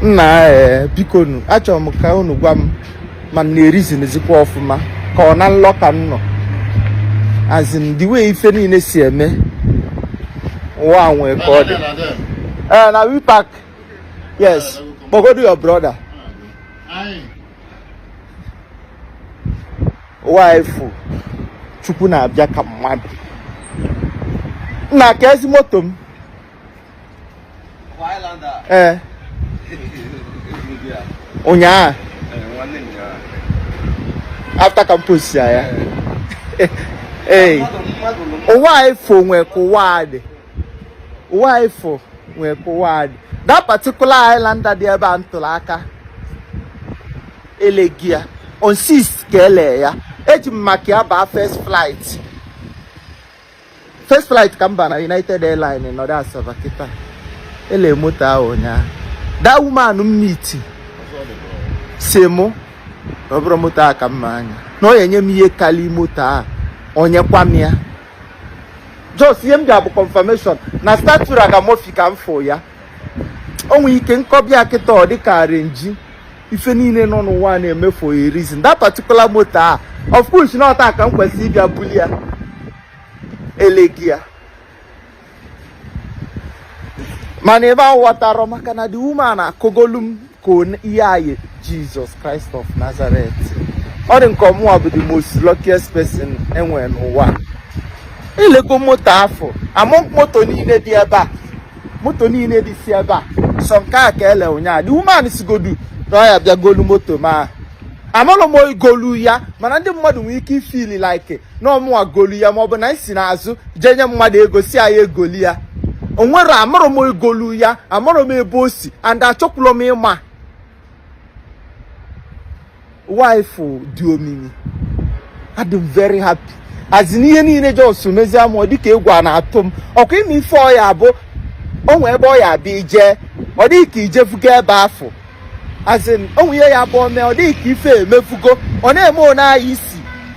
nna ee bikonu achọrọ m ka unu gwa m ma m na-erizinizikwa ọfụma ka ọ na nlọ ka m nọ as in the way ife niile si eme ụwa a nwee ka ọ dị ee na we park yes kpọgodo your brother wife chukwu na-abịa ka mmadụ nna ka ezi moto m ee eh. ụnyaahụ after ka m post ya ya ee wife o nwee ka ụwa a dị wife o nwee ka ụwa a dị that particular Highlander dị ebe a m tụrụ aka eleghị ya on 6 ka ele ya eji m maka ya baa first flight first flight ka m ba na United Airlines nọdụ Asaba kịta ele moto ahụ ụnyaahụ that woman m meet sị mụ na ọ bụrụ moto a ka mma anya na ọ ya-enye m ihe kalị moto a o nyekwa m ya just ihe m bịa bụ confirmation na statura ka mofi ka m fụ ya o nwere ike m kọba ya kịta ọ dịka arrangee ife niile nọ n'ụwa na-eme for a reason that particular moto a of course na ọ taa ka m kwesịrị ịbịa buli ya elegi ya mana ebe ahụ ghọtara maka na the woman akọgolu m ka ihe anyị Jesus Christ of Nazareth ọ dị m ka ọ mụwa bụ the most luckiest person e nwere n'ụwa elego moto afụ among moto niile dị ebe a moto niile dịsị ebe a sọ nke a ka ele ụnyaahụ the woman sịgodu na ọ ya bịa golu moto ma amarọ m onye golu ya mana ndị mmadụ nwere ike ịfeel like na ọ mụwa golu ya maọbụ na m si n'azụ jee nye mmadụ ego sị anyị egoli ya onwere amarọ m onye golu ya amarọ m ebe o si and achọkwụlọ m ịma wife dị omimi adị m very happy as in ihe niile just mezie mụ ọ dịka egwu a na-atụ m ọkwa ịma ife ọ ya-abụ o nwee ebe ọ ya-abụ i je ọ dị gị ka i jefugo ebe afụ as in o nwee ihe ya-abụ o mee ọ dị gị ka ife emefugo ọ na-eme one anyị isi